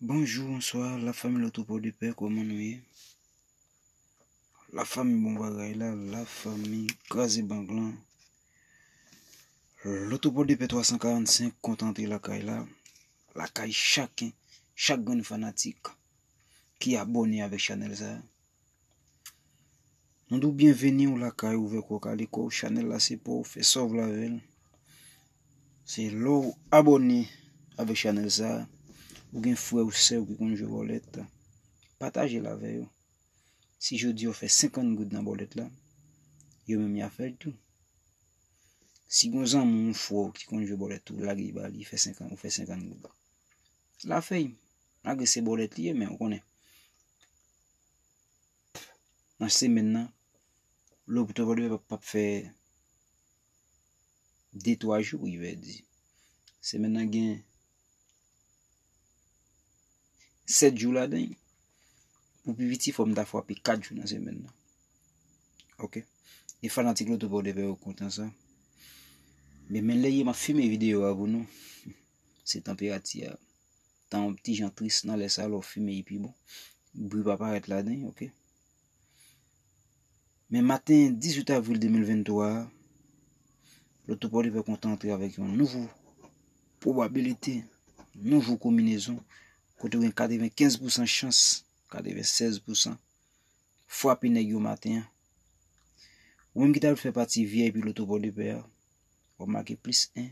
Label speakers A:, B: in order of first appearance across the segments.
A: Bonjou bonswa la fanmi lo troupo de pè kòman nou ye la fanmi bon bagay la la fanmi kraze bank lan lo troupo de pè 345 kontan antre lakay la lakay chaken chak grenn fanatik ki abòne avèk chanèl sa Mwen dou byen veni ou lakay ou vek ou kaliko chanel la se pou ou fe sa ou vle avè l. Se lè ou abone avèk chanel sa ou gen frè ou sè ou ki konn jwe bòlèt pataje l avè yo. Si jodi yo fè 50 goud nan bòlèt la yo menm ya fè l tou. Si gon zanmi ou fò ki konn jwe bòlèt tou lage ba li fè 50 ou fè 50 goud. La fèy malgre se bòlèt li ye men ou konnen. nan semenn nan, lopital Vodupè p ap fè de twa jou wi vè di. Semenn nan gen sèt jou ladan l. Pou pi piti fò m ta fwape kat jou nan semenn nan. Ok. E fanatik lopital Vodupè yo kontan sa. Men men lè ye m ap fime videyo a pou nou. Se tanperati a. tan an ti jan tris nan lè sa lè w fimen epi bon bri pa parèt ladan ok. Men maten 18 avril 2023 a, loto Pòdepè kontan antre avèk yon nouvo pwobabilite, nouvo kominezon kote gen 95 pousan chans, 96 pousan fwape nèg yo maten an. Ou menm ki ta fè pati VIP loto Pòdepè a, wap make plis 1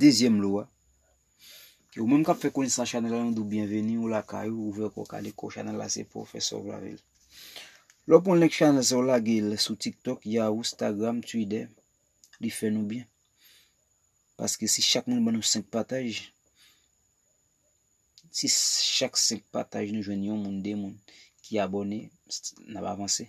A: Dezyèm lo a. Ou menm kap fè konesans chanel la nou dou byenveni ou lakay ou ouvè kò kale kò chanel la se pou fè sov la vil. Lò pon link chanel sa ou lage l sou TikTok, Yahoo, Instagram, Twitter, li fè nou byen. Paske si chak moun ban nou 5 pataj, si chak 5 pataj nou jwenn yon moun, 2 moun ki abone, n ap avanse.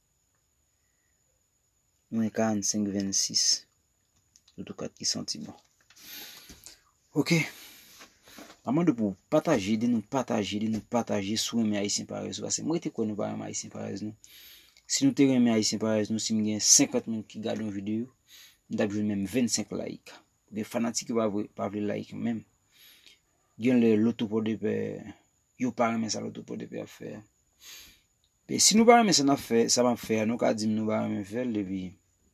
A: Mwen 45 26. Toutou kat ki santi bon. Ok. Mwen mande pou pataje, de nou pataje, de nou pataje sou renmen Ayisyen Parèz ou. Ase mwen rete kwen nou pa renmen Ayisyen Parèz nou. Si nou te renmen Ayisyen Parèz nou, si mwen gen 50 moun ki gade yon videyo, mwen tap jwenn menm 25 like. Gen fanatik yo pa vle like menm. Gen lè loto pòdepè, yo pa renmen sa loto pòdepè ap fè. E si nou pa renmen sa nap fè, sa map fè a, nou ka dim nou pa renmen fèl epi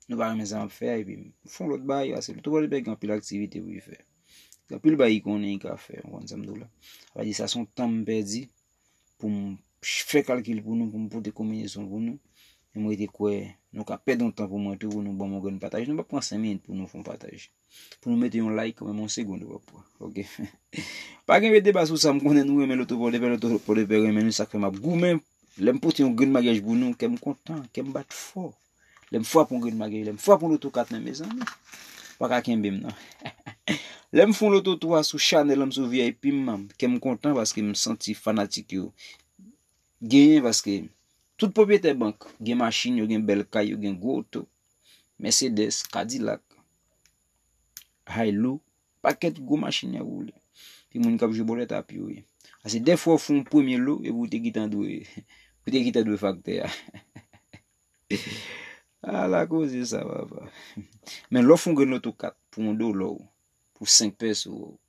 A: nou pa renmen sa map fè a epi m fon lòt bagay paske Doctor Paul Luther gen anpil aktivite pou li fè. Gen anpil bagay li konnen li ka fè, ou konn sa m di w la. Sa vle di sa son tan m pèdi pou m fè kalkil pou nou, pou m pote konbinezon pou nou. E m rete kwè nou ka pèdi yon tan pou mwen tou pou nou banm yon grenn pataj. Nou pap pran 5 minit pou nou fon pataj. Pou nou mete yon like kòmèm yon segond wap wè Ok Pa gen yon deba sou sa m konnen nou renmen loto pòdepè loto pòdepè renmen nou sak fè map goumen Lèm pote yon grenn maryaj pou nou kèm kontan kèm bat fò Lèm fwape yon grenn maryaj lèm fwape yon loto 4 nan mezanmi ou paka kenbe m nan Lèm fon loto 3 sou chanèl m sou vip m nan kèm kontan paske m santi fanatik yo genyen paske tout pwopyetè bank gen machin yo gen bèl kay yo gen gwo oto Mercedes, Cadillac, Hilux, pakèt gwo machin yap woule. Pi moun kap jwe bolèt ap yo ye. Ase de fwa ou fon premye lo e pou te ki tan dwe pou te ki tan dwe faktè a. A la koze sa papa. Men lò fon grenn loto 4 pou yon do lò pou 5 pèso.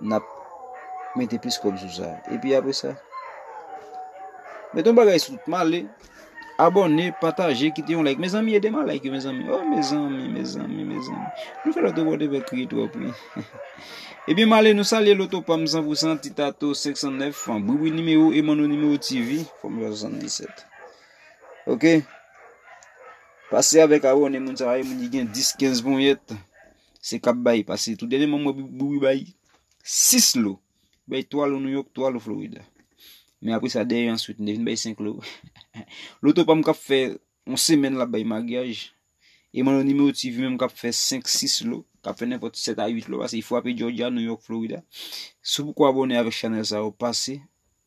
A: nap mete plis kob sou sa epi apre sa met yon bagay sou male abòne pataje kite yon like mezanmi edem a like yo mezanmi oh mezanmi mezanmi mezanmi nou fè lòt abòne vè kriye twòp wi epi male nou salye loto pam 100% ti tato 509 fan briwi nimewo emano nimewo tv fòm 77 ok pase avèk abòne moun sa yo moun ki gen 10 15 ponyèt Se kap bay pase tou dènye mwen mwen Bouwi bay 6 lo. Bay 3 lo New York, 3 lo Florida. Men apre sa dèyè answit li vin bay 5 lo. Loto pa m kap fè on semèn la bay maryaj. E mwen lo nimewo TV menm kap fè 5, 6 lo. Kap fè nenpot 7 a 8 lo. Pase yi fwape Georgia, New York, Florida. Sou pou kwa abone avèk chanèl sa yo pase.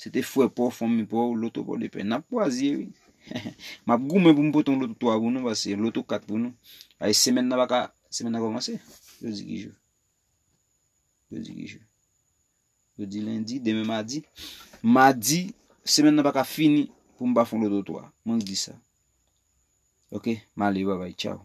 A: Se te frè paw, fanmi paw, loto paw de pè. Nap pwazye wi. Map goumen pou m pote yon loto 3 pou nou pase yon loto 4 pou nou. Ay semèn nan baka, semèn nan komanse. Jodi ki jou? Jodi ki jou? Jodi lendi, demen madi. Madi, semèn nan baka fini pou m pa fon loto 3. Mwen k di sa. Ok, male bye bye, tchao.